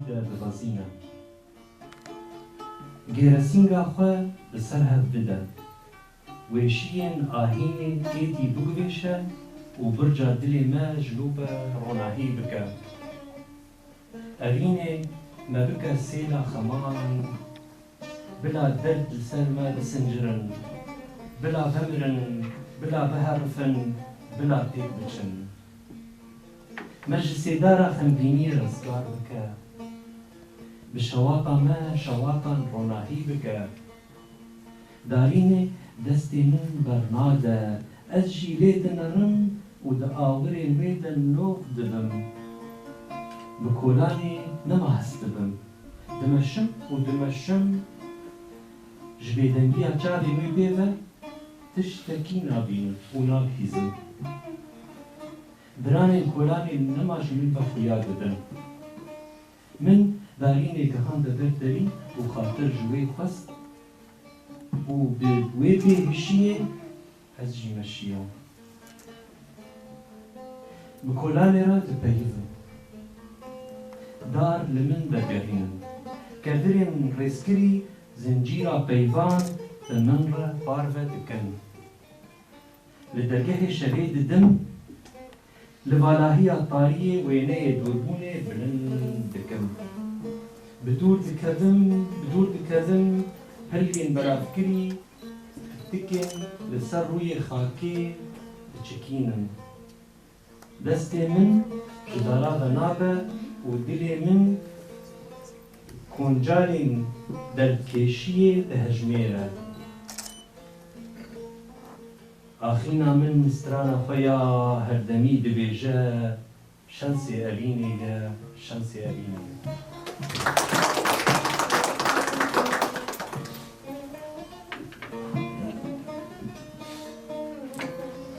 dixwezîne gêresînga xwe bi ser hev bide, wêşîyên ahînê êdî bigurêşe û birca dilê me ji lo be ronahî bike. Evînê me bike sêla xeman, bila derd li ser me bisincirin, bila bimirin, bila biherifin, bila têk biçin. Me ji sêdara xemgîniyê restgar bike, bi şewata me şewatan ronahî bike. Darînê destê min bernade, ez jî lê dimerim û di awirên wê de nov dibim. Bi kolanê nema hest dibim, dimeşim û dimeşim. Ji bêdengiya çavên wê pê ve tiştekî nabînim û nabihîzim. Diranên kolanê nima ji min ve xuya didin. Min Darînê gihande ber derî û xatir ji wê xwest û bi wê pê hişiyê ez jî me şiyam. Bi kolanê re dipeyivim. Dar li min dergehînin. Kedirên rêzkirî zincîra peyvan bi min re parve dikin. Li dergehê şevê didim li valahiya tariyê wêneyê dûrbûnê bilind dikim. Bi dûr diketim, bi dûr diketim, piryên belavkirî pirtikên li ser rûyê xakê diçikînin. Destê min ji dara ve nabe û dilê min koncarên derdkêşiyê dihejmêre. Axîna min strana xwe ya herdemî dibêje, Şensê Elînê ye, Şensê Elînê ye.